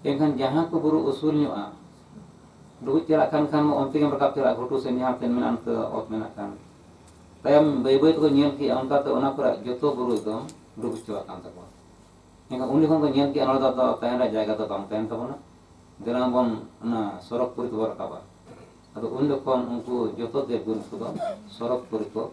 ᱮᱱᱠᱷᱟᱱ ᱡᱟᱦᱟᱸ ᱠᱚ ᱵᱩᱨᱩ ᱩᱥᱩᱞ ᱧᱚᱜᱼᱟ ᱰᱩᱵᱩᱡ ᱪᱟᱞᱟᱜ ᱠᱟᱱ ᱠᱷᱟᱱ ᱢᱟ ᱚᱱᱛᱮ ᱜᱮᱢ ᱨᱟᱠᱟᱵ ᱪᱟᱞᱟᱜᱼᱟ ᱜᱷᱩᱴᱩ ᱥᱮᱫ ᱡᱟᱦᱟᱸ ᱥᱮᱫ ᱢᱮᱱᱟᱜᱼᱟ ᱚᱱᱛᱮ ᱚᱛ ᱢᱮᱱᱟᱜ ᱠᱷᱟᱱ ᱛᱟᱭᱚᱢ ᱵᱟᱹᱭ ᱵᱟᱹᱭ ᱛᱮᱠᱚ ᱧᱮᱞ ᱠᱮᱜᱼᱟ ᱚᱱᱠᱟᱛᱮ ᱚᱱᱟ ᱠᱚᱨᱮᱜ ᱡᱚᱛᱚ ᱵᱩᱨᱩ ᱮᱠᱫᱚᱢ ᱰᱩᱵᱩᱡ ᱪᱟᱵᱟᱜ ᱠᱟᱱ ᱛᱟᱠᱚᱣᱟ ᱮᱱᱠᱷᱟᱱ ᱩᱱ ᱡᱚᱠᱷᱚᱱ ᱠᱚ ᱧᱮᱞ ᱠᱮᱜᱼᱟ ᱱᱚᱰᱮ ᱫᱚ ᱛᱟᱦᱮᱱ ᱨᱮᱭᱟᱜ ᱡᱟᱭᱜᱟ ᱫᱚ ᱵᱟᱝ ᱛᱟᱦᱮᱱ ᱛᱟᱵᱚᱱᱟ ᱫᱮᱞᱟ ᱵᱚᱱ ᱚᱱᱟ ᱥᱚᱨᱚᱜᱽ ᱯᱩᱨᱤ ᱛᱮᱵᱚᱱ ᱨᱟᱠᱟᱵᱟ ᱟᱫᱚ ᱩᱱ ᱡᱚᱠᱷᱚᱱ ᱩᱱᱠᱩ ᱡᱚᱛᱚ ᱫᱮᱵᱽ ᱜᱩᱨᱩ ᱠᱚᱫᱚ ᱥᱚᱨᱚᱜᱽ ᱯᱩᱨᱤ ᱠᱚ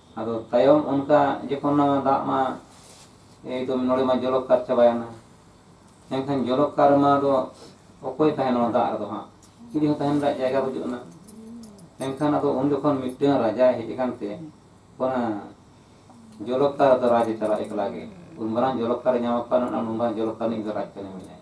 ᱟᱫᱚ ᱛᱟᱭᱚᱢ ᱚᱱᱠᱟ ᱡᱚᱠᱷᱚᱱ ᱱᱚᱣᱟ ᱫᱟᱜ ᱢᱟ ᱮᱠᱫᱚᱢ ᱱᱚᱰᱮ ᱢᱟ ᱡᱚᱞᱚᱠᱠᱟᱨ ᱪᱟᱵᱟᱭᱮᱱᱟ ᱮᱱᱠᱷᱟᱱ ᱡᱚᱞᱚᱠᱠᱟᱨ ᱨᱮᱢᱟ ᱫᱚ ᱚᱠᱚᱭ ᱛᱟᱦᱮᱱᱟ ᱱᱚᱣᱟ ᱫᱟᱜ ᱨᱮᱫᱚ ᱦᱟᱸᱜ ᱪᱤᱞᱤ ᱦᱚᱸ ᱛᱟᱦᱮᱱ ᱨᱮᱭᱟᱜ ᱡᱟᱭᱜᱟ ᱵᱟᱹᱪᱩᱜ ᱟᱱᱟ ᱮᱱᱠᱷᱟᱱ ᱟᱫᱚ ᱩᱱ ᱡᱚᱠᱷᱚᱱ ᱢᱤᱫᱴᱟᱝ ᱨᱟᱡᱟᱭ ᱦᱮᱡ ᱟᱠᱟᱱ ᱛᱮ ᱚᱱᱟ ᱡᱚᱞᱚᱠᱠᱟᱨ ᱫᱚ ᱨᱟᱡᱽ ᱮ ᱪᱟᱞᱟᱜᱼᱟ ᱮᱠᱞᱟ ᱜᱮ ᱩᱱ ᱢᱟᱨᱟᱝ ᱡᱚᱞᱚᱠᱠᱟᱨᱮ ᱧᱟᱢ ᱟᱠᱟᱫ ᱩᱱ ᱢᱟᱨᱟᱝ ᱡᱚᱞᱚᱠᱠᱟᱨ ᱨᱤᱱᱤᱡ ᱫᱚ ᱨᱟᱡᱽ ᱠᱟᱹᱱᱟᱹᱧ ᱢᱮᱱᱟᱭᱟ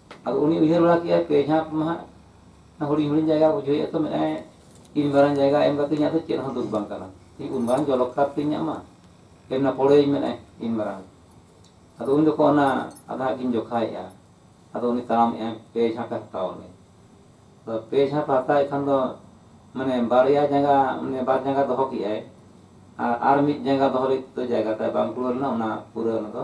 ᱟᱫᱚ ᱩᱱᱤ ᱩᱭᱦᱟᱹᱨ ᱵᱟᱲᱟ ᱠᱮᱫᱼᱟᱭ ᱯᱮ ᱡᱷᱟᱸᱯ ᱢᱟ ᱦᱟᱸᱜ ᱦᱩᱰᱤᱧ ᱦᱩᱰᱤᱧ ᱡᱟᱭᱜᱟ ᱨᱮ ᱵᱩᱡᱷᱟᱹᱣᱮᱫᱼᱟ ᱛᱚ ᱢᱮᱱᱮᱫᱼᱟᱭ ᱤᱱ ᱢᱟᱨᱟᱝ ᱡᱟᱭᱜᱟ ᱮᱢ ᱠᱟᱛᱮᱫ ᱤᱧᱟᱹᱜ ᱫᱚ ᱪᱮᱫ ᱦᱚᱸ ᱫᱩᱠ ᱵᱟᱝ ᱠᱟᱱᱟ ᱩᱱ ᱢᱟᱨᱟᱝ ᱡᱚᱞᱚ ᱠᱷᱟᱫᱽ ᱛᱤᱧ ᱤᱧᱟᱹᱜ ᱢᱟ ᱮᱢ ᱮᱱᱟ ᱯᱚᱲᱮᱭᱟᱹᱧ ᱢᱮᱱᱮᱫᱼᱟᱭ ᱤᱱ ᱢᱟᱨᱟᱝ ᱟᱫᱚ ᱩᱱ ᱡᱚᱠᱷᱚᱱ ᱚᱱᱟ ᱟᱫᱚ ᱦᱟᱸᱜ ᱠᱤᱱ ᱡᱚᱠᱷᱟᱭᱮᱫᱼᱟ ᱟᱫᱚ ᱩᱱᱤ ᱛᱟᱲᱟᱢᱮᱫᱼᱟᱭ ᱯᱮ ᱡᱷᱟᱸᱯᱮ ᱦᱟᱛᱟᱣ ᱟᱹᱱᱤᱡ ᱟᱫᱚ ᱯᱮ ᱡᱷᱟᱸᱯᱮ ᱦᱟᱛᱟᱣᱮᱫ ᱠᱷᱟᱱ ᱫᱚ ᱢᱟᱱᱮ ᱵᱟᱨᱭᱟ ᱡᱟᱸᱜᱟ ᱢᱟᱱᱮ ᱵᱟᱨ ᱡᱟᱸᱜᱟ ᱫᱚᱦᱚ ᱠᱮᱫᱼᱟᱭ ᱟᱨ ᱟᱨ ᱢᱤᱫ ᱡᱟᱸᱜᱟ ᱫᱚᱦᱚ ᱞᱟᱹᱜᱤᱫ ᱛᱮᱫᱚ ᱡᱟᱭᱜᱟ ᱛᱟᱭ ᱵᱟᱝ ᱠᱩᱲᱟᱹᱣ ᱞᱮᱱᱟ ᱚᱱᱟ ᱯᱩᱨᱟᱹ ᱚᱱᱟ ᱫᱚ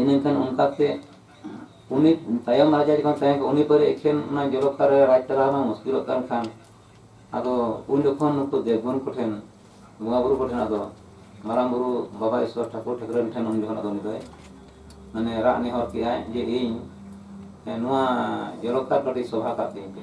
ᱤᱱᱟᱹ ᱠᱷᱟᱱ ᱚᱱᱠᱟ ᱛᱮ ᱩᱱᱤ ᱛᱟᱭᱚᱢ ᱨᱟᱡᱟ ᱡᱚᱠᱷᱚᱱ ᱛᱟᱦᱮᱸ ᱠᱟᱱᱟ ᱩᱱᱤ ᱯᱚᱨᱮ ᱮᱠᱷᱮᱱ ᱚᱱᱟ ᱡᱚᱞᱚᱠᱟᱨ ᱨᱮ ᱨᱟᱡᱽ ᱪᱟᱞᱟᱣ ᱢᱟ ᱢᱩᱥᱠᱤᱞᱚᱜ ᱠᱟᱱ ᱠᱷᱟᱱ ᱟᱫᱚ ᱩᱱ ᱡᱚᱠᱷᱚᱱ ᱱᱩᱠᱩ ᱫᱮᱵᱽᱜᱩᱱ ᱠᱚᱴᱷᱮᱱ ᱵᱚᱸᱜᱟ ᱵᱩᱨᱩ ᱠᱚᱴᱷᱮᱱ ᱟᱫᱚ ᱢᱟᱨᱟᱝ ᱵᱩᱨᱩ ᱵᱟᱵᱟ ᱤᱥᱣᱚᱨ ᱴᱷᱟᱹᱠᱩᱨ ᱴᱷᱟᱹᱠᱨᱟᱹᱱ ᱴᱷᱮᱱ ᱩᱱ ᱡᱚᱠᱷᱚᱱ ᱟᱫᱚ ᱩᱱᱤ ᱫᱚᱭ ᱢᱟᱱᱮ ᱨᱟᱜ ᱱᱮᱦᱚᱨ ᱠᱮᱜᱼᱟᱭ ᱡᱮ ᱤᱧ ᱱᱚᱣᱟ ᱡᱚᱞᱚᱠᱟᱨ ᱠᱟᱹᱴᱤᱡ ᱥᱚᱵᱷᱟ ᱠᱟᱜ ᱛᱤᱧ ᱯᱮ